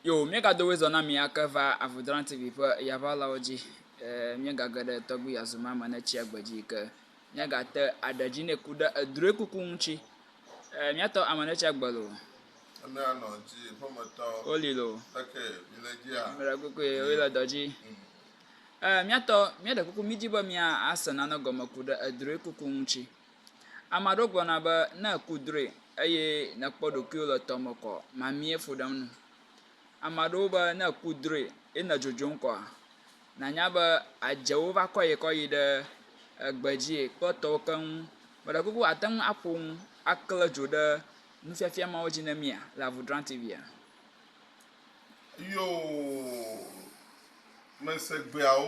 Yo, míegado wezɔ na mi ake va Avudrani TV ƒe yaʋalawo dzi. Ee, míegage ɖe tɔgbi yazuma me ne tsia gbe dzi ke míagate aɖe dzi ne ku ɖe edroe kuku ŋuti. Ee, míatɔ ame ne tsia gbe lo. Ene anɔ ŋuti, ƒemetɔ. Woli lo. Eke, mi le dzia. Mele kukue, woi le dɔ dzi. Mm. Ee, míatɔ, míaɖe kuku, mídi be mía ase nane gɔme ku ɖe edroe kuku ŋuti. Ame aɖewo gblɔna be ne èku drɔe eye nèkpɔ ɖokuiwò le tɔ me kɔa, mamie fu ɖem na wò. Ame aɖewo be ne èku drɔe ye nèdzodzom kɔa, nànya be adzewo va kɔe kɔ yi ɖe egbe dzie kple tɔwo keŋ. Meɖe kuku àte ŋu aƒo nu aklẽ dzo ɖe nufiafia mawo dzi na mía le Avudrani TV-a? Yoo, mese gbeawo.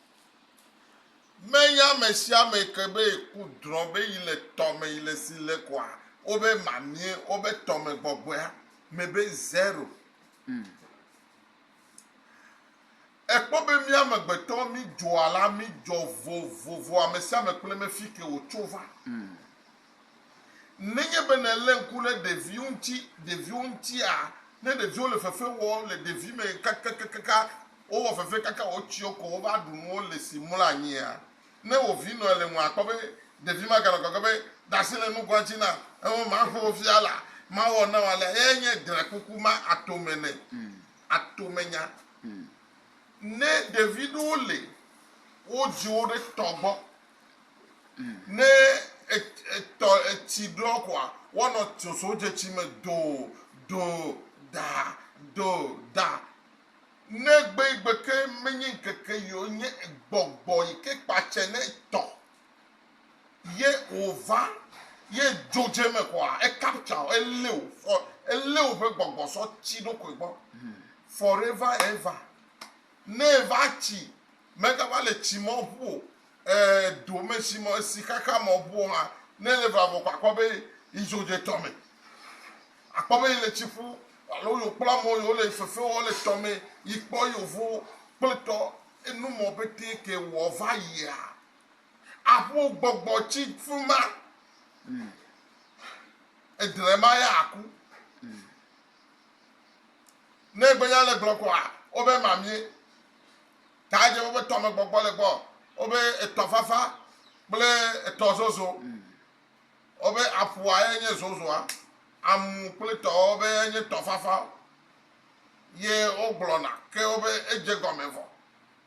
Meya mesiame ke be ku drɔ̃ be yi le tɔ me yi le si le kɔa wobe mamie wobe tɔ me gbɔgbɔea me be zero. Ekpɔ be mía amegbetɔ mí dzoa la mí dzɔ vovovo amesiame kple me fike wò tso va. Nenye be nèlé ŋku ɖe ɖeviwo ŋuti, ɖeviwo ŋutia, ne ɖeviwo le fefe wɔm le ɖevime kakakakaka, wowɔ fefe kaka wotsyɔ ko wova ɖu nuwo le si mlɔ anyia, ne wò vi nɔe le ŋu akpɔ be ɖevi ma ganɔ gɔgɔ̃ be, Dasi le nugoa dzi nam, ẽ, maƒo wò fia laa, mawɔ na wò alea. Eyae nye drɛ̃kuku ma atome ne. Atomenya. Ne ɖevi ɖewo le wo dziwo ɖe tɔ gbɔ Ne etɔ etsi ɖɔ koa, woanɔ sosodzeti me do, do, da, do, da. Ne gbe yi gbe ke menye ŋkeke yi o, nye gbɔgbɔ yi ke kpa tse ne etɔ ye wòva ye dzo dze eme koa, ekaptsa wò, elé wò, fɔ, elé wò ƒe gbɔgbɔ sɔ tsi ɖokoe gbɔ. Forever ever. Ne eva tsi, megava le tsi mɔ ƒu o, e, do me tsi mɔ, si xaxa mɔ ƒu o hã, ne ele va vɔ ko akpɔ be yi dzo dze tɔ me. Akpɔ be yi le tsi ƒu, alo yo kpla mɔ yo le fefe wɔ le tɔ me, yi kpɔ yo vo kple tɔ enu mɔ pɛtɛ ke wɔ va yia, aƒu gbɔgbɔ tsi fima, edrema ya aku. Ne egbe nya le gblɔ koa, wobe mamie. Ta dze wobe tɔme gbɔgbɔ le gbɔ. Wobe etɔ fafa kple etɔ zozo. Wobe aƒua ye nye zozoa. Amu kple tɔwo be ye nye tɔ fafa. Ye wogblɔna ke wobe edze gɔme vɔ.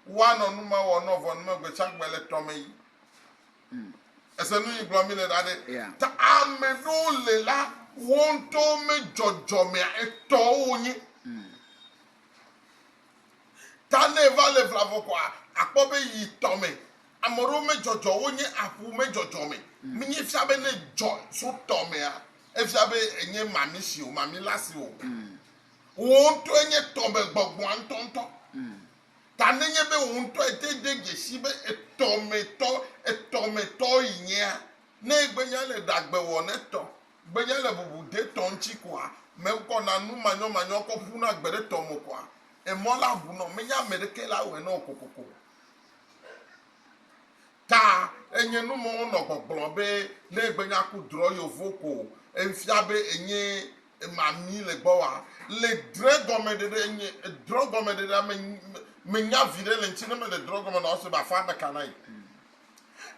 Woanɔ nume wɔ nɔ vɔ nume gbetsagbe le tɔme yi. Èse nu yi gblɔ mi le ɖa ɖe? Ta ame ɖewo le la, wo ŋutɔwo me dzɔdzɔmea etɔwo wonye. Ta ne eva le vla vɔ koa, akpɔ be yi tɔ me ame ɖewo me dzɔdzɔ wonye aƒu me dzɔdzɔme. Mi nye fia be ne dzɔ so tɔ mea, efia be enye mami si o, mami la si o. Wò ŋutɔe nye tɔ me gbɔgbɔa ŋutɔ ŋutɔ. ta nenye be wò ŋutɔ ète de dzesii be etɔmetɔ, etɔmetɔ yi nyea, ne gbenya le ɖagbewɔnetɔ, gbenya le bubudetɔ ŋuti koa, mekɔna nu manyɔmanyɔ kɔ ƒuna gbe ɖe tɔme koa, emɔ la ʋunɔ, menye ameɖeke la wɔe nɔ o kokoko. ta enye nu me wonɔ gbɔgblɔ be ne egbe nya ku drɔ yovo ko efia be enye mami le gbɔ wa le dre gɔme ɖe ɖe enye drɔ gɔme ɖe ɖe me me nya vi ɖe le ŋtsi ne me le drɔ gɔme na ɔse ba fa ɖeka na yi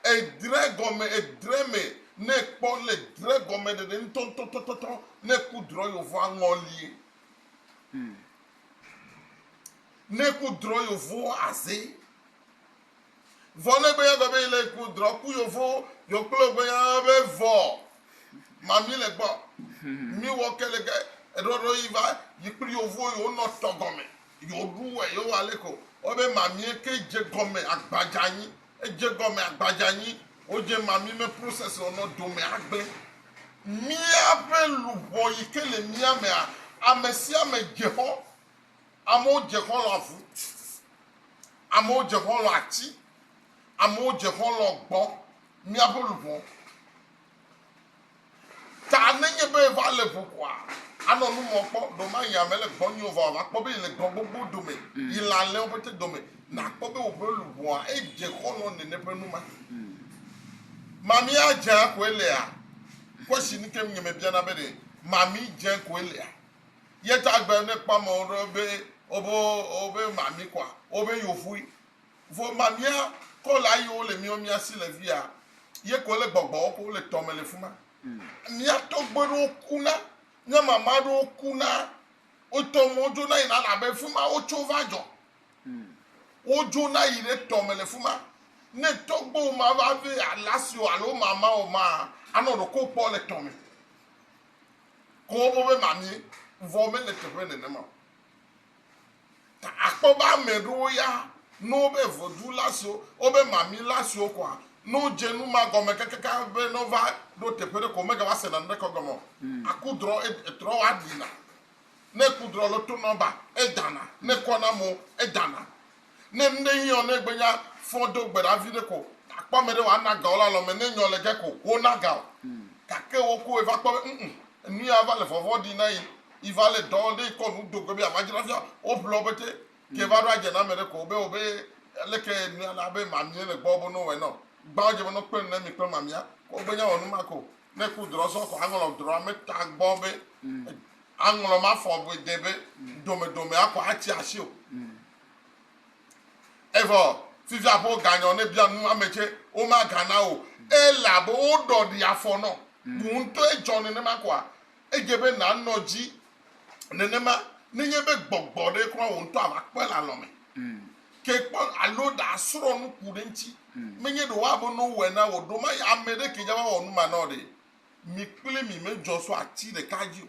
edre gɔme edre me ne kpɔ le dre gɔme ɖe ɖe ŋtɔntɔntɔntɔ ne ku drɔ yovo aŋɔ lie hmm. ne ku drɔ yovo aze Vɔ ne gbeya gbe be yi le ku drɔ ku yovo yo kple gbeya be vɔ ma mi le gbɔ mi wɔ ke le ke eɖɔ ɖɔ yi va yi kple yovo yo nɔ tɔ gɔme yo ɖu wɛ yo wa le ko wɔ be ma mi ke je gɔme agbadza nyi edje gɔme agbadza nyi wo je ma mi me process wo nɔ dome agbe mía ƒe luʋɔ yi ke le mía mea ame sia ame je xɔ Amewo dze xɔlɔ̃ avu, amewo dze xɔlɔ̃ ati, amewo dze xɔlɔ̃ gbɔ, míaƒe luʋɔ. Ta nenye be va le ʋu koa, anɔ nu mɔ kpɔ, ɖo ma yi ame le gbɔ nyo vɔ ava kpɔ be yi le gbɔ gbogbo dome, yi le alẽwo ƒete dome, nakpɔ be woƒe luʋɔa edze xɔlɔ̃ nene ƒe nu ma. Mami adzea koe lea? Question ke nye me biana be ɖe mami dze koe lea? Ye tagbe ne kpɔ amewo ɖo be wobe wobe mami kɔa wobe yovui. Vo mamia kɔ la yi wole miwo mia si le via ye ko le gbɔgbɔwo ko le tɔme le fuma. Mia tɔgbe ɖewo ku na mia mama ɖewo ku na wotɔ mɔ dzo na yi na la be fuma wotso va dzɔ. Wo dzo na yi ɖe tɔme le fuma. Ne tɔgbe wo ma va ve alasi wo alo mama wo ma anɔ ɖoko kpɔ le tɔme. ko woƒe be mamie, vɔ mele teƒe nenema o. Ta akpɔ be ame ɖewo ya no wobe vodou la siwo, wobe mamie la siwo koa, no dze nu ma gɔme kakaka be no va ɖo teƒe ɖe ko mega va sena naneke gɔme o. Hmm. Aku drɔ, etrɔ wa ɖina. Ne ku drɔ lo tonɔ ba, edana. Ne kɔna mo, edana. Ne nu ɖe hiɔ, ne gbe nya fɔ do gbe ɖa viɖe ko, akpɔ ame ɖe wòana ga wo le alɔ me, ne nyɔ le ge ko, wona ga o. Gake wo koe va kpɔ be, ŋ-ŋ, enu ya va le vɔvɔ̃ ɖi na yi, yi va le dɔ, ne yi kɔ nu do gbe be yeamadzra fia o, woƒle wo pɛtɛ. Ke va ɖo adze na ame ɖe ko be, wobe, leke nu ya le abe mamie le gbɔ be no wɔe nɔ? Gbã wodze be no kple nu ne mi kple mamia, ko wogbe nya wɔ nu ma ko. Ne ku drɔ zɔ ko aŋlɔ drɔ ame ta gbɔ be, aŋlɔ mafɔ be de be, domedomea ko atsi asi o. Evɔ fifia ƒe woganyɔ ne bia nu ame tse womagana o elabe woɖɔ ɖi afɔ nɔ. Wò ŋutɔ edzɔ nenema koa? Edze be nànɔ dzi nenema nenye be gbɔgbɔ ɖe kura wò ŋutɔ ava kpɔe le alɔ me ke kpɔ alo ɖe asrɔ nu ku ɖe eŋuti. Menye ɖe woabe ne wowɔe na wò ɖo ma ya ame ɖe ke dza va wɔ nu ma na wò ɖe. Mi kple mi medzɔ so ati ɖeka dzi o.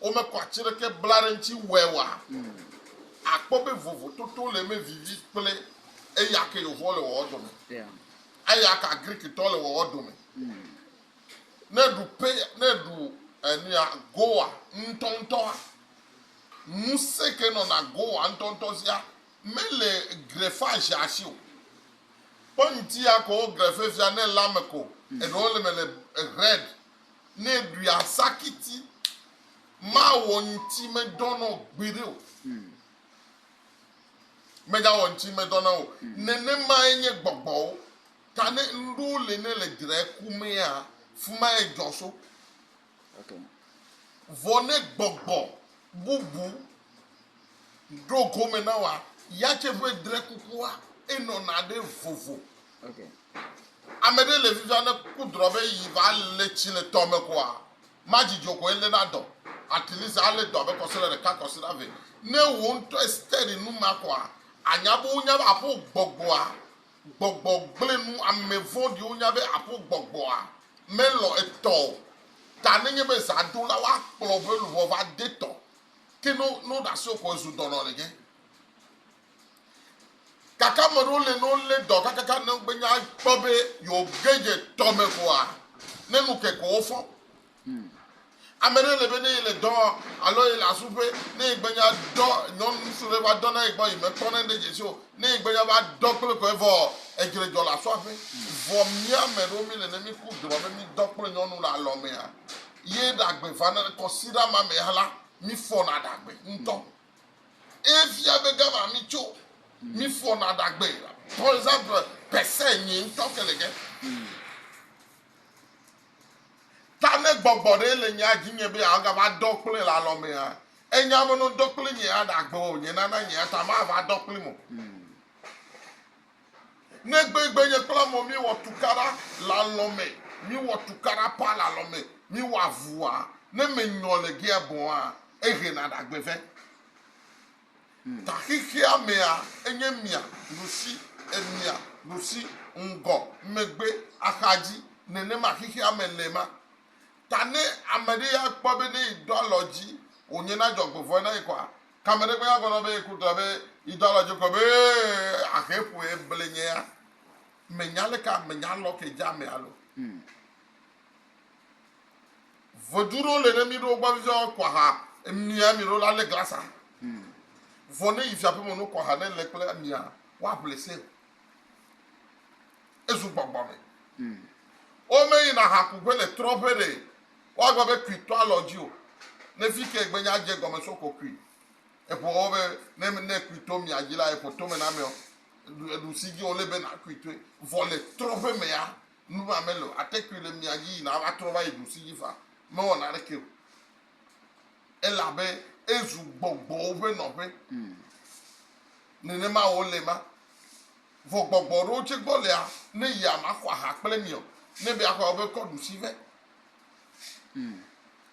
Womekɔ atsi ɖeke bla ɖe eŋtsi wɔe oa? Akpɔ be vovototo le eme vivi kple eya ke Yehowa le wɔwɔ dome. Eya ka Griktɔ le wɔwɔ dome? Ne eɖu pe, ne eɖu enuya goa ŋutɔŋutɔa, ŋusẽ ke nɔna goa ŋutɔŋutɔ zia mele grefage asi o. Kpɔ ŋuti ya ko wogrefe fia ne ele ame ko. Eɖewo le me le red. Ne ɖui asakiti mawɔ ŋti medɔ nɔ gbeɖe o. Megawɔ ŋti medɔ na o. Nenemae nye gbɔgbɔwo ta ne ŋɖowo le ne le dre ku mea fumae dzɔ so. Vɔ ne gbɔgbɔ bubu Ɖo gome na wòa yatse ƒe dre kukua enɔna ɖe vovo. Ame ɖe le vivia ne kudrɔ be yi va le tsi le tɔ me koa ma dzidzɔ ko ele na dɔ at least ale dɔ abe kɔsiɖa ɖeka kɔsiɖa ve ne wo ŋutɔ esteri nu ma koa anya be wonya be aƒo gbɔgbɔa gbɔgbɔ gble nu ame vɔɖi wonya be aƒo gbɔgbɔa me lɔ etɔ o ta ne nye be za ɖo la wa kplɔ be luʋɔ va de tɔ ke no no ɖe asi ko ezu dɔnɔ le dze gake ame ɖewo le no le dɔ kakaka ne gbe nya kpɔ be yewo ge dze tɔ me koa ne nu ke ko wofɔ ame ɖe le be ne yele dɔ alo yele asuƒe ne yegbe nya dɔ nyɔnu ŋutsu ɖe va dɔ na yi gbɔ yi mekpɔ ne ɖe dze si o ne yegbe nya va dɔ kple ko evɔ edzre dzɔ le asɔaƒe vɔ mía ame ɖewo mi le ne mi ku dzrɔ be mi dɔ kple nyɔnu le alɔmea Ye ɖagbe vana le kɔsiɖa ma me la, mifɔna ɖagbe ŋutɔ. Eye fia be gama mitso, mifɔna ɖagbe. Par exemple, pese nyui ŋutɔ ke le ge. Ta ne gbɔgbɔ ɖe le nyea dzi nye be yeagava dɔ kple le alɔ mea, enya be no dɔ kple nye aɖagbe o, nye nana nye ta mava dɔ kplim o. Negbe egbe nye kple amɔ míewɔ tukaɖa le alɔ me, míewɔ tukaɖa paa le alɔ me, míewɔ avua, ne menyɔ le gea bɔa, ehe na ɖagbe vɛ. Taxixea mea, enye mia, nusi, emia, nusi, ŋgɔ, megbe, axadzi, nenema xixea me le ma. Ta ne ameɖe ya kpɔ be ne yi do alɔ dzi, wònyena dzɔgbevɔe na yi kɔa, Ke ame ɖe kpena gɔnɔ be ye ku ta be yi dɔ alɔ joko be ahe ƒo ye ble nye ya. Me nya le ka me nya lɔ ke ja me alo. Vodu ɖo le ne mi ɖo gba vivia wa kwa ha emia mi ɖo la le glasa. Vɔ ne yi fia pe mo no kwa ha ne le kple emia wa ble se. Ezu gbɔgbɔ me. O me yi na ha ku pe le trɔ pe de. Woagblɔ be, Kui to alɔ dzi o. Ne fi ke gbenye adze egɔme so ko kui. Eƒo wo be, Ne ne kui to mia dzi la, eƒo tome na ameɔ, eɖu si dzi wòle be nàkui toe. Vɔ le trɔ̃ƒe mea, numa mele o. Ate kui le mia dzi yina ava trɔ va yi ɖu si dzi faa. Mewɔ naneke o. Elabe ezu gbɔgbɔwo ƒe nɔƒe. Nenema wòle ma. Vɔ gbɔgbɔ ɖewo tsɛ gbɔ lea, ne yia maxɔ aha kple mi ɔ, ne be axɔe ɔ, be kɔ ɖusi vɛ.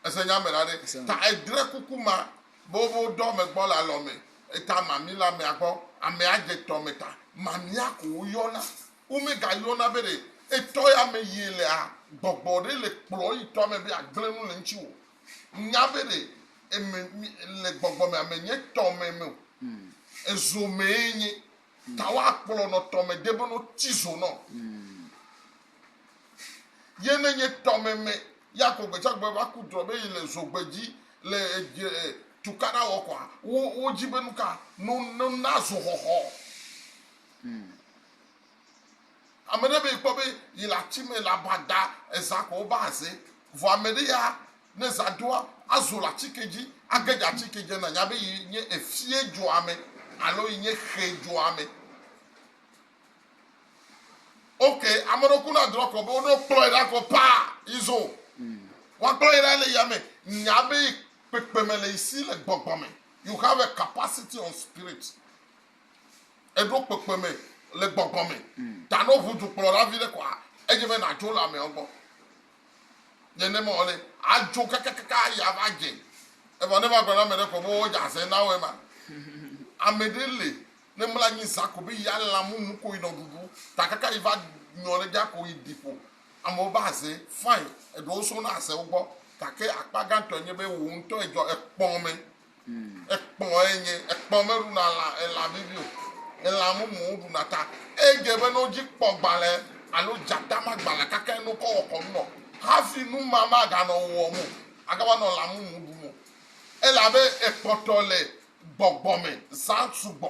Ese nya me la ɖe? Ta edre kuku ma be wo be wo dɔ ame gbɔ le alɔ me, eta mami le amea gbɔ, amea dze tɔ me ta. Mamia ko wo yɔna. Wo me ga yɔna be ɖe etɔ ya me yi ele a, gbɔgbɔ ɖe le kplɔ yi tɔ me be ya gble nu le ŋtsi wo. Nya be ɖe eme le gbɔgbɔ me ame nye tɔ me me o. Ezo mee nye. Tawo akplɔ nɔ tɔme debe no ti zo nɔ. Ye ne nye tɔme me ya ko gbetsagbe va ku drɔ be yi le zo gbedzi le edje tukaɖa wɔ kɔa, wo wo dzi be nuka no no na zo xɔxɔ. Ame ɖe be kpɔ be yi le ati me le aba da eza ko wova aze. Vɔ ame ɖe ya ne eza doa azo le ati ke dzi age ɖe ati ke dzi nanya be yi nye efie dua me alo yi nye xe dua me. Ok, ame ɖe ku na drɔ kɔ be wo ɖo kplɔ yi ɖa kɔ paa yi zo. Wa kplɔ yi ɖa le yame nya be kpekpeme le yi si le gbɔgbɔ me. You have a capacity on spirit. Eɖo kpekpeme le gbɔgbɔ me. Ta no ʋu dukplɔla viɖe koa, edze be nadzo le ameawo gbɔ. Nenema wòle. Adzo kakakaka ayi ava dze. Evɔ ne eva gblɔ na ameɖe koa, be wodze azẽ na woe ma. Ameɖe li, ne mla anyi zã ko be yea lã mumu ko yinɔ ɖuɖu, ta kaka yi va nyɔ ɖe ɖia ko yi ɖi ƒo. Amewo va azẽ, fine, eɖewo sona azẽwo gbɔ, gake akpa gãtɔe nye be wò ŋutɔ edzɔ ekpɔmɛ. Ekpɔ enye, ekpɔ meɖuna lã, elã vivi o, elã mumuwo ɖuna ta. Edze be ne wodzi kpɔ gbalẽ alo dzata ma gbalẽa kake ne wokɔ wɔ kɔnu nɔ hafi nu ma maganɔ wo wɔm o, agava nɔ lã mumu ɖum o. Elabe ekpɔtɔ le gbɔgbɔ me zã sugbɔ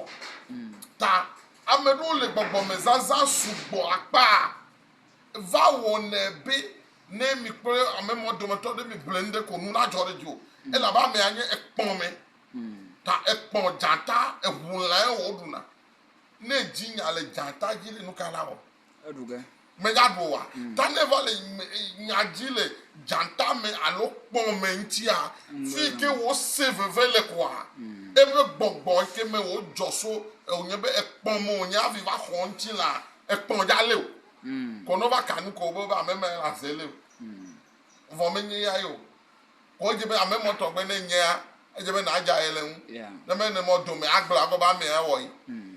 ta. Ame ɖewo le gbɔgbɔ me zazã sugbɔ akpa. Eva wɔnɛ be ne mi kple ame mawo dometɔ ɖe migblɔe nu ɖe ko nu nadzɔ ɖe edzi o, elabe amea nye ekpɔme, ta ekpɔ dzata, eŋu lãe wòɖuna. Ne dzi nya le dzata dzi ɖe, nu kae la wɔ? Eɖu ge. Megaɖu oa? Ta ne eva le nya dzi le dzata me alo kpɔ me ŋutia, fi yi ke wòse veve le koa, eƒe gbɔgbɔ yi ke me wòdzɔ so wònye be ekpɔ me wònye hafi va xɔ ŋutilã Ekpɔn dza lé o. Kɔnɔ va kanu ko be ame mɛ la ze lé o. Vɔ me nye ya yo. Kɔ edze be ame mɔ tɔgbe ne nyea edze be na dza ye le ŋu. Ne me ne mɔ dome agble agɔ be ame ya wɔ yi.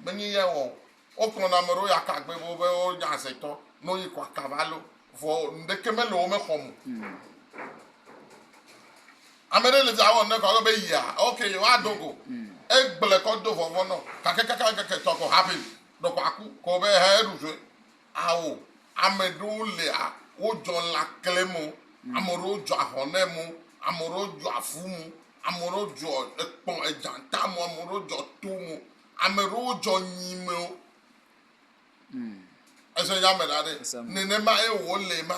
Me nye ya wɔ o. Wo kplɔ na ame ɖewo ya ka gbe be wobe wo nya ze tɔ no yi kɔ aka va leo. Vɔ ŋɖeke me le wo me xɔ mo. Ame ɖe le via wɔ ŋɖe kɔ be yia ok wa dogo. Egble kɔ do vɔvɔ nɔ kake kaka ŋkeke tɔ ko happen. Ɖɔkpaku kɔ be ha eɖu sue. Ao, ame ɖewo lia, wodzɔ lã klẽ mo, ame ɖewo dzɔ ahɔn nɛ mo, ame ɖewo dzɔ avu mo, ame ɖewo dzɔ ekpɔ edzata mo, ame ɖewo dzɔ to mo, ame ɖewo dzɔ nyi me o. Ese nya me ɖa ɖe. Nenema ye wòle ma.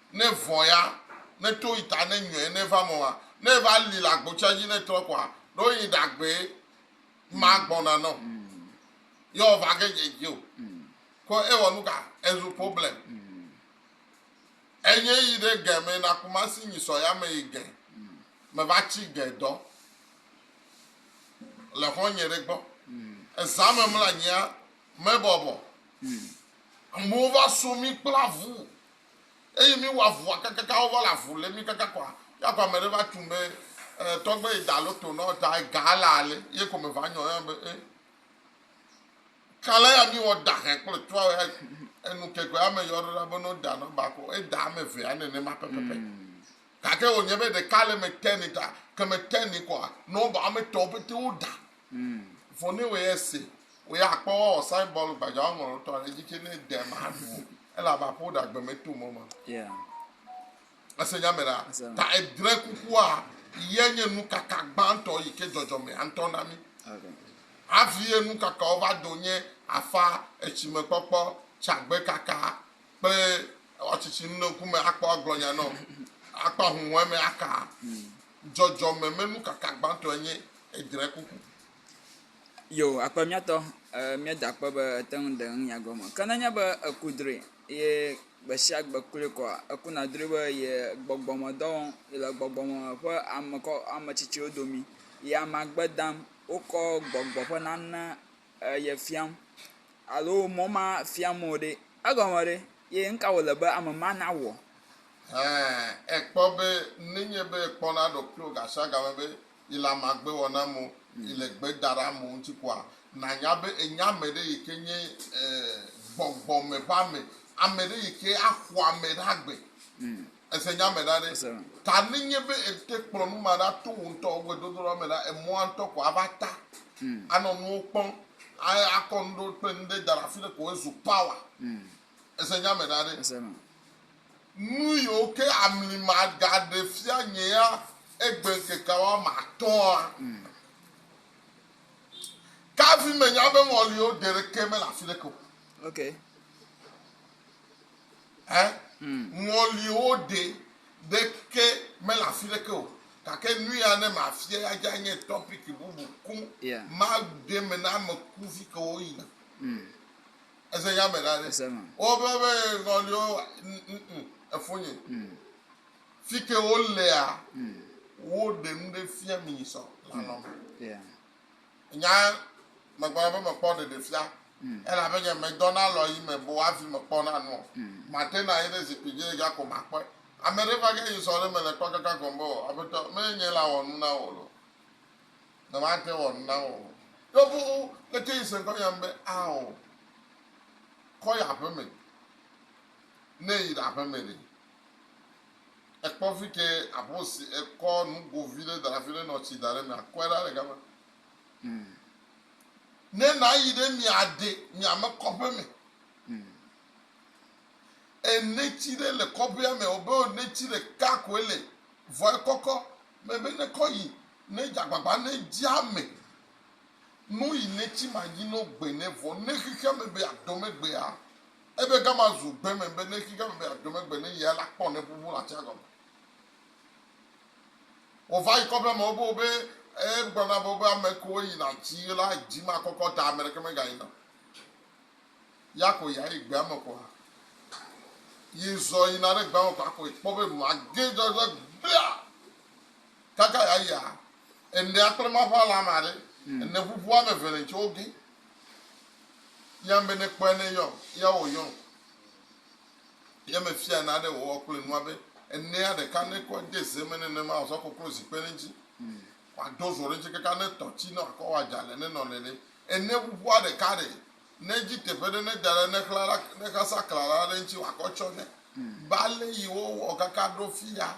ne vɔ ya, ne to yi ta ne nyɔɛ ne va mɔa, ne va li la gbotsa dzi ne trɔ kɔa, ɖo yi ɖagbe ma gbɔna nɔ. Yɔ va ge dze dzi o. Ko e wɔ nuka? E zu problem. Enye yi ɖe ge me na kumasi nyi sɔ ya me yi ge me va tsi ge dɔ le xɔ nye ɖe gbɔ. Eza me mla nyia me bɔbɔ. Amewo va so mi kpla vu. Eyi mi wa vua kakaka wo va la vu le mi kaka kɔa ya kɔa me ɖe va tun be e tɔgbe yi da lo to nɔ ta ga la ale ye ko me va nyɔ ya be e kala ya mi wɔ da hɛn kple tua ya enu kekwe ame yɔ ɖo la be no da nɔ ba ko e da ame ve ya nene ma pepepe. Hmm. Gake wònye be ɖeka le me te ni ta, ke me te ni kɔa, ne woba woame etɔ̃ pete wo da. Mm. Vɔ ne wòye se, wò ya akpɔ woawɔ sign bɔl gbadza woŋlɔ ɖotɔ ɖe edzi tse ne de maɖu o. Ele abe aƒe ɖe agbe me to mɔ ma. Yeah. Ese nya me ɖa. Ese. Ta edre kukua ye nye nukaka gbãtɔ yi ke dzɔdzɔmea ŋutɔ na mi. Okay. Hafi ye nukakawo va do nye afa etsimekpɔkpɔ, tsagbekaka, kple atsitsi nu ne ŋkume akpɔ agblɔ nya nɔ akpɔ ahuhɔe me aka dzɔdzɔme me nu kaka gbãtɔ enye edre kuku. Yo, akpe miatɔ eh, mia da kpɔ be ete ŋu ɖe ŋu nya gɔme. Ke nenye be eku drɔe ye gbe sia gbe kloe kɔa, eku na drɔe be ye gbɔgbɔ me dɔ wɔm, ye le gbɔgbɔ me ƒe ame kɔ ame tsitsiwo domi, ye amea gbe dam, wokɔ gbɔgbɔ ƒe nane eye fiam alo mɔ ma fiam wò ɖe, egɔme ɖe ye nu ka wòle be ame ma nawɔ? Ɛ̃, èkpɔ be nenye be èkpɔna ɖokuiwò gashiagame be yele amagbewɔname o, yele gbe daɖam o ŋuti koa, nànya be ènya ame ɖe yi ke nye gbɔgbɔ me ƒe ame, ame ɖe yi ke axɔ ame ɖe agbe. Ese nya me ɖa ɖe. Ta ne nye be ète kplɔ nu ma ɖa to wò ŋutɔ wò gbedodoɖa me la, emɔa ŋutɔ ko ava ta anɔ nuwo kpɔm, akɔ nu ɖewo kple nu ɖe da ɖe afi ɖe ko ezu power. Ese nya me ɖa ɖe. Nu yiwo ke amli magaɖe fia nye ya egbe ŋkeke woame atɔ̃a, kafi menya be ŋɔliwo geɖeke mele afi ɖeke o. Ẽ? Ŋɔliwo ɖe ɖeke mele afi ɖeke o, gake nu ya ne mafia ya dze anye tɔpiki bubu koŋ. Yeah. Maɖe eme na ame kuvi ke woyina. Mm. Eze ya me la ɖe. Eze me. Wobe be ŋɔliwo n- n- n- efonye. Mm. Fi ke wolea, Mm. woɖe nu ɖe fia mi sɔ lanɔ me. Yeah. Nya megblɔna be mekpɔ ɖeɖefia, elabe nye medɔna alɔɣi me boo hafi mekpɔna nu o. Matena anyi ɖe zikpui dzi ɖeka ko makpɔe. Ame ɖe va ge yi sɔ ɖe eme le kpɔkaka gɔme be, Oo, Aƒetɔ, menye nye la wɔ nu na wò loo. Nyemate wɔ nu na wò o. Ɖo fũu leke yi se ŋkɔ nyam be, Ao, kɔ yi aƒeme, ne yi ɖaƒeme ɖe. Ekpɔ fi ke aƒe si ekɔ nugo vi ɖe da ɖe afi ɖe nɔ tsi da ɖe me akɔe ɖa le gama. Mm. Ne nàyi ɖe mia ɖe mia me kɔƒe me. Mm. Enetsi ɖe le kɔƒea me wobe enetsi ɖeka koe le vɔ ekɔkɔ mebe ne kɔ yi ne dze agbagba ne dzi ame no yi netsi ma dzi no gbe ne vɔ ne xexea me be adɔ me gbea Ebe gama zu gbe me be ne xi gama be aɖome gbe ne yea la kpɔ ne ƒuƒu la tsia gɔme. Wova yi kɔƒe me wo be e gblɔ na be ame kewo yi na tsi la dzi ma kɔkɔ ta ame ɖeke me ga yi na. Ya ko ya yi gbea me kɔa. Yi zɔ yi na ɖe gbea me kɔa ko kpɔ be ma ge dzɔ dzɔ gbea. Kaka ya yia Ene akple ma ƒe ala ame aɖe. Ene ƒuƒu ame eve le ŋtsɔ wo gé. Yam be ne kpɔe ne yɔm, ya wò yɔm. Ye me fia na ɖe wòwɔ kple nua be enea ɖeka ne kɔ de ze me nenema wòzɔ koklo zikpe ɖe ŋtsi. Wa do zo ɖe ŋtsi kaka ne tɔ tsi ne wakɔ wa dza le ne nɔ le ɖe. Ene ƒuƒua ɖeka ɖe. Ne dzi teƒe ɖe ne da ɖe ne xla ɖa ne xasa kla ɖa ɖe ŋtsi wakɔ tsɔ ɖe. Bale yi wo wɔ kaka ɖo fia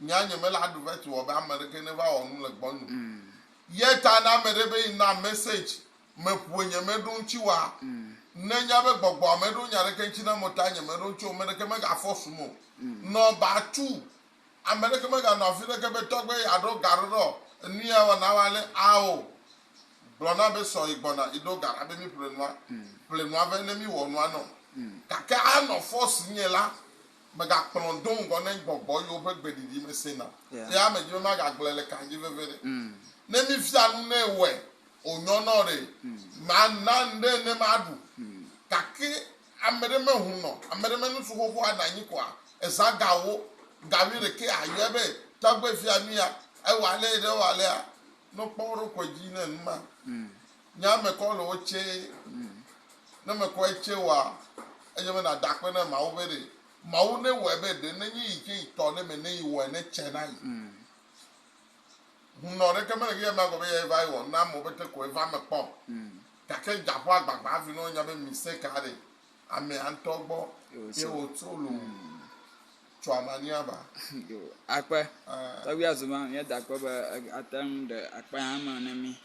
Nya nye mele aɖu veto wɔ be ame aɖeke neva wɔ nu le gbɔnye o. Ye ta ne ame ɖe be yi na message me ƒue nye me ɖo ŋtsi wa, ne nya be gbɔgbɔa me ɖo nya ɖeke ŋtsi na mo ta nye me ɖo ŋtsi o, me ɖeke mega force mo. Nɔ ba tu. Ame ɖeke mega nɔ afi ɖeke be tɔgbe ya ɖo ga ɖo ɖɔ enu ya wɔ na wa le a o. Gblɔ na be sɔ yi gbɔna yi ɖo ga ɖa be mi ƒle nua. Ƒle nua be ne mi wɔ nua nɔ. Gake a nɔ force nye la, Megakplɔm do ŋgɔ ne gbɔgbɔ yiwo ƒe gbeɖiɖi mesẽ na ƒea me dzi be magagblɔe le kan dzi veve ɖe. Ne mifia nu nɛ wɔe wònyɔnɔ ɖe, mana ŋɖe ne maɖu. Gake ame ɖe mehunɔ, ame ɖe menu tso xoxoa ɖe anyi koa, ezã gawo, ga wuiɖekɛ ayɔe be, Tɔgbe fia nuya, ewɔ alea ɖe ewɔ alea. Nɔ kpɔ wo ɖokui dzi ne nu ma. Nya mekɔ le wo tsɛ. Ne mekɔ etsɛ wɔa, edze be nàda akpe na Mawu be ɖe Mawu ne wɔe be ɖe nenye yi tsɛ yi tɔ ɖe me ne yi wɔe ne tsɛ na yi. Hunnɔ ɖeke mele eyi amea gɔ be yea va yi wɔ na amewo be te ko eva me kpɔ o. Gake dza ƒe agbagba hafi ne wonya be mise ka ɖe amea ŋutɔ gbɔ ye wòtso loo tso amania ba. Akpe. Tɔgbuia Zuma, míeda akpe be ate ŋu ɖe akpe hã eme ne mí.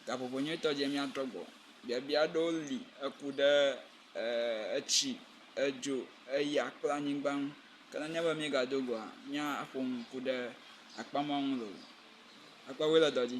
Gaƒoƒo nyuitɔ dzi míatrɔ gbɔ. Biabia aɖewo li eku ɖe etsi, edzo, eya kple anyigba ŋu. Ke nenye be míegado go hã míaƒo nu ku ɖe akpamɔ ŋu loo. Akpɔe be wole dɔ dzi.